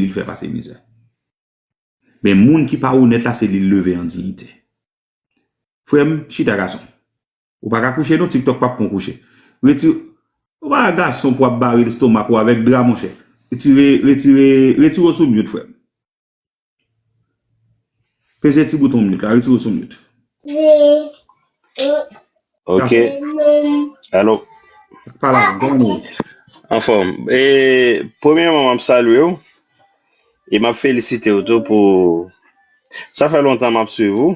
li l fè pase mizè. Men moun ki pa onèt la se li l leve an diyite. Frè m, chita gason. Ou pa ka kouche non, TikTok p ap pran w kouche. Reti, ou pa gason pou w ap bare lestomak ou avèk dra monchè. Retire, retire, retire w sou myout frè m. Peze ti bouton myout la, retire w sou myout. Ok. Gason. Alo. Ak pale ak grann ou. Anfòm. E premyeman map salye ou e map felisite ou tou pou sa fè lontan map swiv ou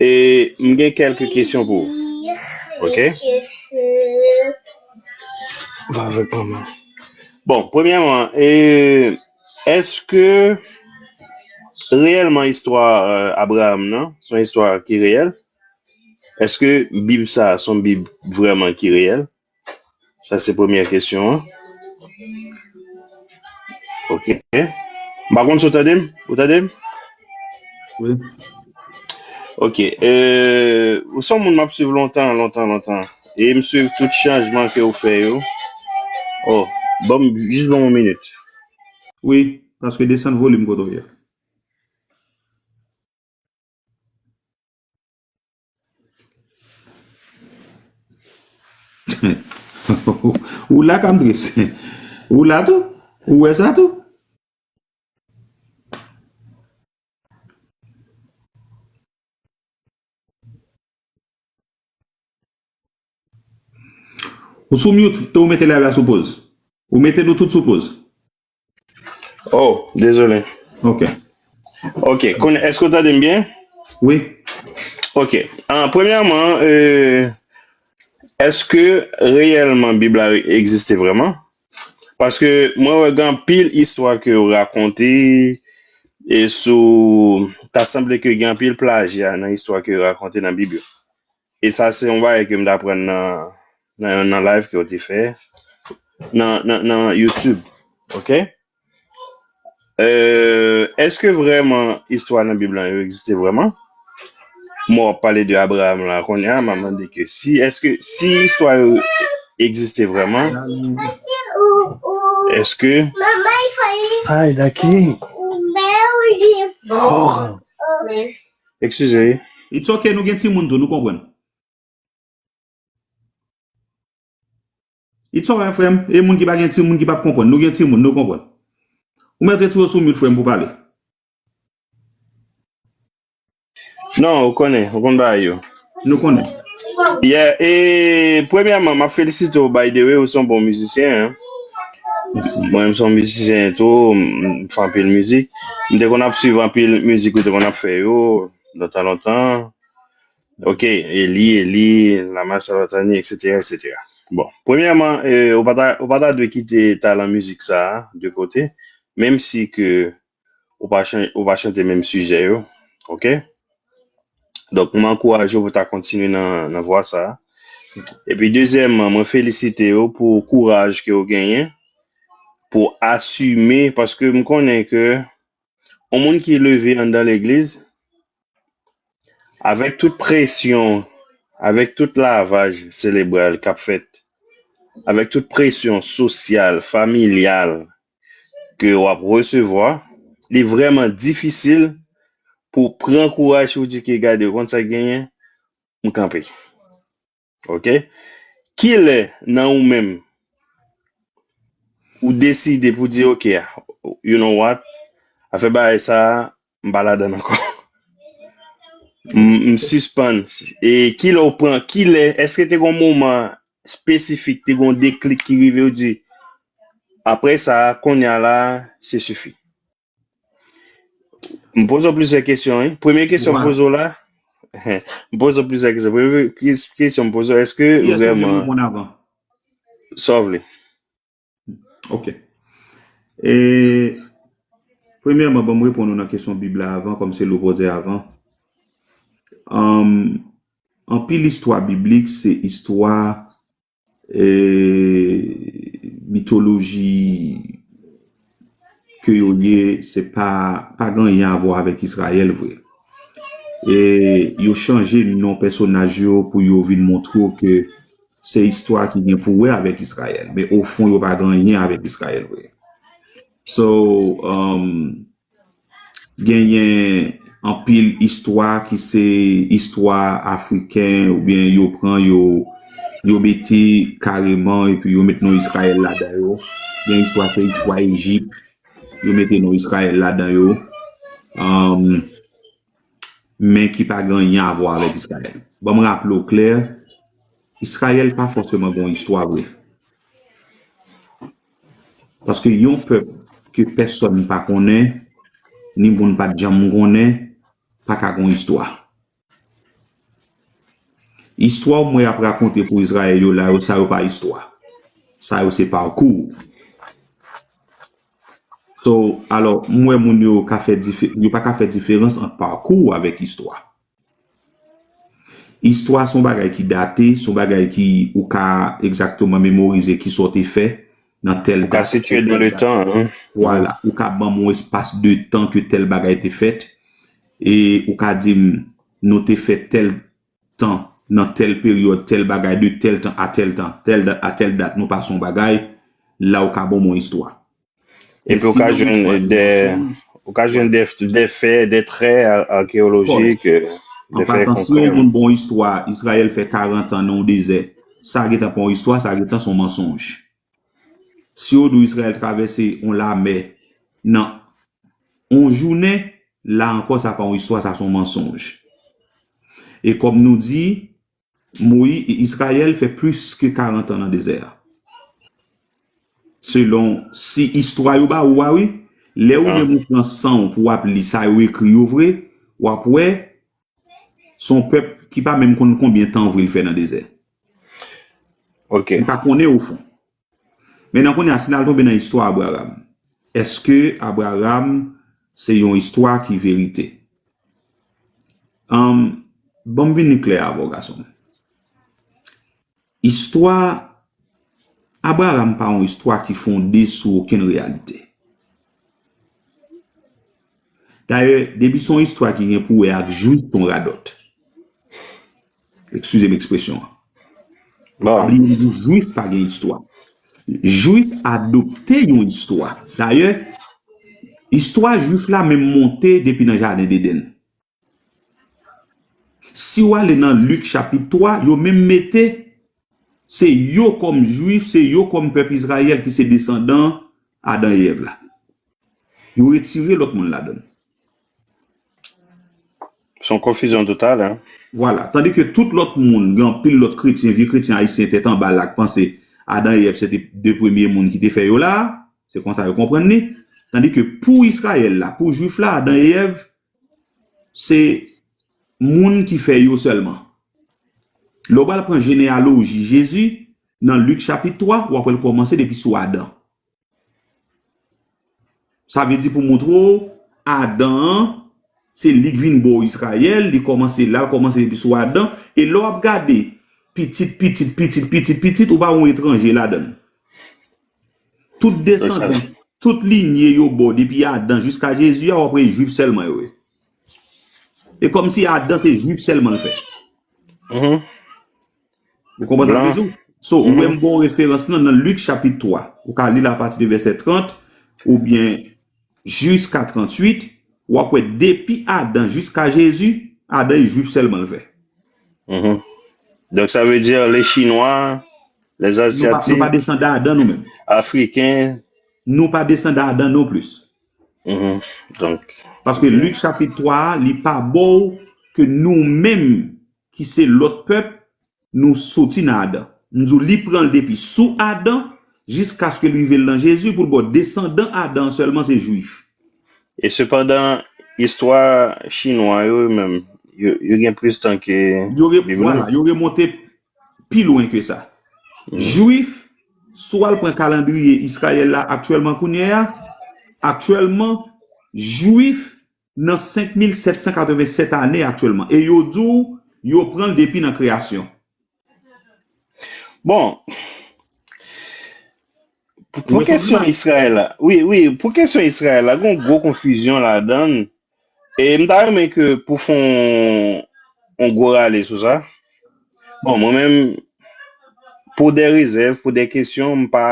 e m gen kèlke kesyon pou ou. Ok. Va avèk manman. Bon, premyeman e eske reyèlman istwa Abraham nan son istwa ki reyèl? Eske bib sa a son bib vrèman ki reyèl? Sa se premyè kesyon an. Ok. M pa konn si w tande m. Ou tande m? Wi. Ok. E, ou son moun m ap suiv lontan, lontan, lontan. E m suiv tout chanjman ke ou fè yo. Oh, ban m, jis ban m yon minit. Wi, paske desann volim kote w ye a. Ou la kam tris Ou la tou Ou wè sa tou Ou sou mute e ou mete live la sou poz Ou mete nou tout sou poz. Oh, dezole. Ok. Ok, konnen, eske w tande m byen? Wi. Ok. An, premyèman, e, eske reyèlman Bib la egziste vrèman? Paske mwen wè gen anpil istwa ke yo rakonte e sou, ta sanble ke gen anpil plajya nan istwa ke yo rakonte nan Bib yo. E sa se yon bagay ke m t aprann nan nan yon nan live ke ou te fè nan nan nan YouTube ok euh eske vrèman istwa nan bib lan yo egziste vrèman mò wap pale de Abraham la konnya map mande ke si eske si istwa yo egziste vrèman eske ay daki ekskize It's ok nou gen timoun tou nou konprann. It's alright frèm, e moun ki pa gen timoun ki pap konprann, nou gen timoun nou konprann. Ou mèt retire w sou mute frèm pou pale. Non, ou konnen, ou konn bagay yo. Nou konnen. Yeah, e premyèman map felisite w by the way, ou son bon mizisyen hein. Mèsi. Mwen menm son mizisyen tou, m fè anpil mizik. M te konn ap swiv anpil mizik ou te konn ap fè yo, lontan lontan. Ok, Eli, Eli, lama sabatani, etc. etc. Bon, premyèman, eh, ou pa ta, ou pa ta dwe kite talan mizik sa a de kote, menm si ke ou pa chan, ou pa chante menm sijè yo, ok? Donk, mwen ankouraje ou pou ta kontinye nan, nan vwa sa a. Epi, dezyèmman, mwen felisite ou pou kouraj ke ou genyen, pou asime, paske m konnen ke yon moun ki leve anndan legliz avèk tout presyon avèk tout lavaj selebral kap fèt avèk tout presyon sosyal familyal ke wap resevwa li vrèman difisil pou pran kouraj pou di ke gade ou konn sak genyen m kanpe. Ok kilè nan ou menm ou deside pou di ok a you know what afè bagay sa m pa ladann ankò m sispann e kilè ou pran kilè eske te gon moman espesifik te gon deklik ki rive ou di aprè sa konya la se sifi. M poze w plizyè kesyon wi. Premye kesyon m poze w la, m poze w plizyè kesyon. Premye kesyon m poze w, èske vrèman, sa w vle? Ok. E, premyèman ban m reponn ou nan kesyon Bib la avan, kòm se l ou poze avan. Anpil istwa biblik se istwa Mitoloji ke yo ye se pa pa gen anyen avwa avèk Izrayèl vre. E yo chanje non pèsonaj yo pou yo vin montre w ke se istwa ki gen pou wè avèk Izrayèl. Men ofon yo pa gen anyen avèk Izrayèl vre. So, Genyen anpil istwa ki se istwa afriken oubyen yo pran yo yo mete kareman epi yo mete non Izrayèl ladan yo. Gen istwa se istwa Ejip yo mete non Izrayèl ladan yo. men ki pa gen anyen avwa avèk Izrayèl. Banm raple w klè, Izrayèl pa fòseman gen yon istwa vre. Paske yon pèp ke pèsòn pa konnen, ni moun pat janm konnen, pa ka gen yon istwa. Istwa w m wè y ap rakonte pou Izrayèl yo la yo, sa yo pa istwa. Sa yo se parcours. So, alò, m wè moun yo ka fè dife, yo pa ka fè diferans ant parcours avèk istwa. Istwa s on bagay ki date, s on bagay ki ou ka egzakteman memorize ki sa w te fè nan tèl dat. Ou ka sitye nan le tan. Vwala, ou ka ban m on espas de tan ke tèl bagay te fèt e ou ka di m nou te fè tèl tan, nan tèl peryòd, tèl bagay, de tèl tan a tèl tan, tèl dat a tèl dat, nou pase yon bagay, la ou ka ban mwen istwa. Men si nan yon istwa gen mansonj. Ou ka jwenn de fè, de trè akeyolojik, de fè konkrè. An patan, si yon moun ban yon istwa, Izrayèl fè karantan nan yon dezè, sa gentan pa yon istwa, sa gentan se yon mansonj. Si yo di w Izrayèl travèse yon lamè nan yon jounen, la ankò sa pa yon istwa, sa se yon mansonj. E kòm nou di, Moyi, Izrayèl fè plis ke karantan nan dezè a. Selon si istwa yo ba ou a wi, lè ou menm ou pran san w pou w ap li sa yo ekri yo vre, w ap wè Se yon pèp ki pa menm konn konbyen tan ou vle l fè nan dezè. Li pa konnen ofon. Men nan kounye a, si n al tonbe nan istwa Abraram, èske Abraram se yon istwa ki verite? Ban m vin klè avè w, gason m. Istwa Abraram pa yon istwa ki fonde sou okenn reyalite. Dayè, depi se yon istwa ki gen pou wè ak Jwif, se yon radòt. Ekskize m ekspresyon an. Pa bliye m di w Jwif pa gen istwa. Jwif adopte yon istwa. Dayè, istwa Jwif la menm monte depi nan Jaden Deden. Si w ale nan Lik chapit 3, yo menm mete se yo kòm Juif, se yo kòm pèp Izrayèl ki se desandan Adan e Èv la. Yo retire lòt moun ladan l. Se yon konfizyon total, hein. Vwala. Tandi ke tout lòt moun, gen anpil lòt kretyen, vye kretyen ayisyen tèt anba la ki panse Adan e Èv se te de premye moun ki te fè yo la a. Se konsa yo konprann li. Tandi ke pou Izrayèl la, pou Juif la, Adan e Èv Se moun ki fè yo sèlman. Lè w pral pran jeneyaloji Jezi nan Lik chapit 3, w ap wè l kòmanse depi sou Adan. Sa vle di pou montre w Adan an, se li k vin bo Izrayèl, li kòmanse la, l kòmanse depi sou Adan. E lè w ap gade pitit pitit pitit pitit pitit, ou pa wè yon etranje ladan l. Tout desandan, tout linye yo bo depi Adan jiska Jezi a wap wè e jwif sèlman yo ye. E komsi Adan se jwif sèlman l fè. Ou konprann sa m vle di w? So ou wè m ba w referans lan nan Lik chapit 3. Ou ka li l apati de vèsè 30 oubyen. jiska 38 wap wè depi Adan jiska Jezi Adan e jwif sèlman l vè. Donk sa vle di le chinwa, le azyatik. Nou pa desandan Adan nou menm. Afriken. Nou pa desandan Adan non plis. Paske Lik chapit 3 a li pa baw ke nou menm ki se lòt pèp Nou soti nan Adan. M di w li pran l depi sou Adan jiskaske l rive lan Jezi pou l ba w desandan Adan an sèlman se Juif. E sepandan, istwa Chinwa yo yo menm, yo gen plis tan ke Bib lan. Yo remonte pi lwen ke sa. Juif, si w al pran kalandriye Izrayèl la aktyèlman kounyeya, aktyèlman, Juif nan 5787 ane aktyèlman e yo di w yo pran l depi nan kreyasyon. Bon, pou kesyon Israel la, wi, wi, pou kesyon Israel la, gen yon gwo konfizyon ladan l, e m ta renmen ke pou fè yon gwo rale sou sa. Bon, mwen menm, pou de rezèv, pou de kesyon, m pa,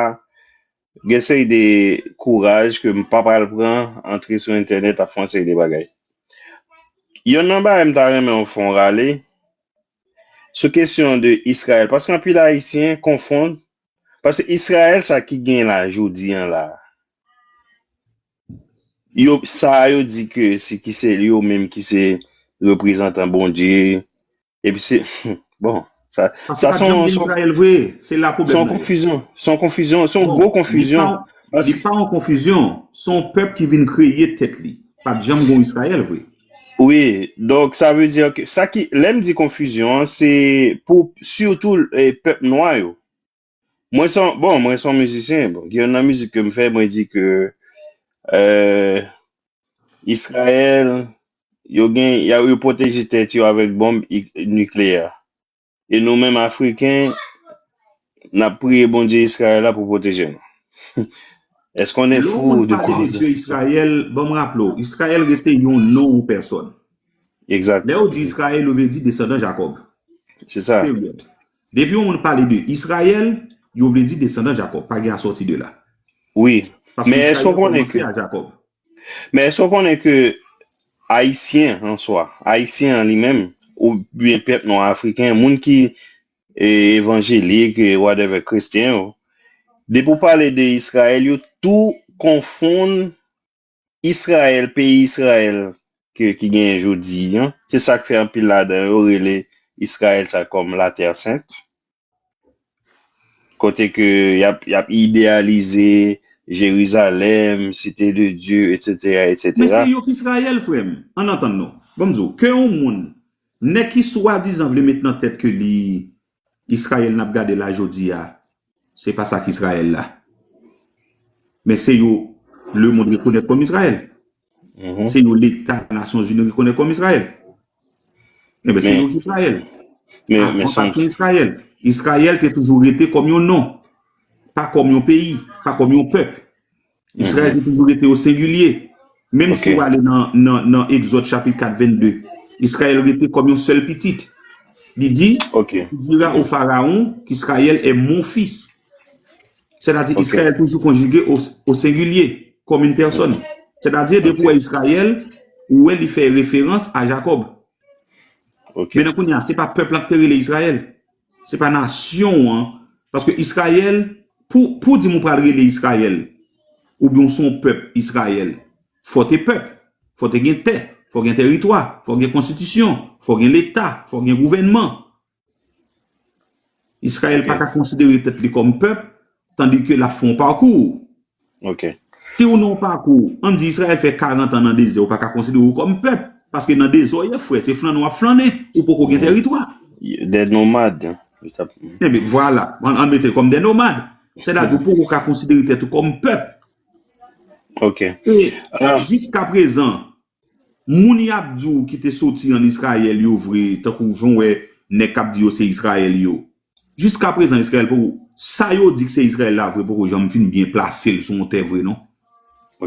Gen seri de kouraj ke m pa pral pran, antre sou entènèt ap fè yon seri de bagay. Yonn nan bagay m ta renmen w fè yon rale, sou kesyon de Israël, paske anpil Ayisyen konfonn, paske Israël sa ki gen la jodi an la, yo sa yo di ke se ki se yo menm ki se reprezantan Bondye, Epi se, bon, sa son, son konfizyon, son konfizyon, son gwo konfizyon. Li pa yon konfizyon, son pèp ki vin kreye tèt li. Pat janm gon Israel vre. Wi, donk sa vle di, sa ki, lèm di konfizyon, se pou, sitou, pèp nwa yo. Mwen son, bon, mwen son mizisyen. Bon, gen nan mizik ke m fè, mwen di ke euh, Israël, yo gen, ya yo pwoteje tèt yo avèk bonb ik- nikleyè. E nou menm Afriken, n ap priye Bondye Israël la pou pwoteje nou. Èske on est Lè yon fou moun de pale de croire? Dye Israël, ban m raple w, Israël rete yon non, yon pèsòn. Exact. Lè yo di Israël, yo vle di desandan Jacob. Se sa. Period. Depi yon moun pale de Israël, yo vle di desandan Jacob. Pa gen asòti de la. Wi. Paske Men èske w Israël konnen ke kòmanse a Jacob. Men èske w konnen ke Ayisyen an swa, Ayisyen an li menm, ou byen pèp nwa Afriken, moun ki e evanjelik, e whatever, kretyen yo, depi w pale de Israël yo tou konfonn Israël, peyi Israël ke ki genyen jodi an, se sak fè anpil ladan yo rele Israël sa kòm la terre sainte. Kote ke yap yap idealize Jerizalèm, site de Dieu etc Men etc. se yok Israël frèm, ann antann nou. Bon m di w, ke yon moun, nèg ki swadizan vle met nan tèt ke li Israel nap gade la jodia se pa sa ki Israel la men se yo le mond rekonèt kòm Israel se yo leta nasyon zini rekonèt kòm Israel enben se yo ki Israel avan pa te Israel Israel te toujou rete kòm yon non pa kòm yon peyi pa kòm yon pèp Israël te toujou rete o sengilye. Menm si ou ale nan Exode chapit 4 22, Israël rete kòm yon sèl pitit. Li di, tu diras au Pharaon qu'Israël est mon fils. Sètadi Israël toujou konjige o sengilye, kòm yn pèsòn. Sètadi depi ou wè Israël, ou wè li fè referans a Jacob. Mennen kounya se pa pèp lan ki te rele Israël. Se pa nasyon an, paske Israël, pou pou di m ou pral rele Israël, ou byen w se yon pèp Israël, fò te pèp, fò te gen tè, fò gen tèritwa, fò gen konstitisyon, fò gen leta, fò gen gouvènman. Israël pa ka konsidere tèt li kòm pèp, Tandi ke lap fè yon parkour. Ok. Si ou nan yon parkour, an di Israel fè 40 an nan dezè ou pa ka konsidere ou kòm pèp. Paske nan dezè ou ye frè, se flannen wap flannen. Ou poko gen teritwa. Des nomades. Enben, vwala. An mete l kòm des nomades. Sètadi ou poko ka konsidere tèt ou kòm pèp. Ok. E, jiska prezan, Moun yap di w ki te soti an Israël yo vre tankou jan w wè nèg kap di yo se Israël yo. Jiskaprezan Israël poko sa yo di ki se Israël la vre poko janm fin byen plase l sou yon tè vre non.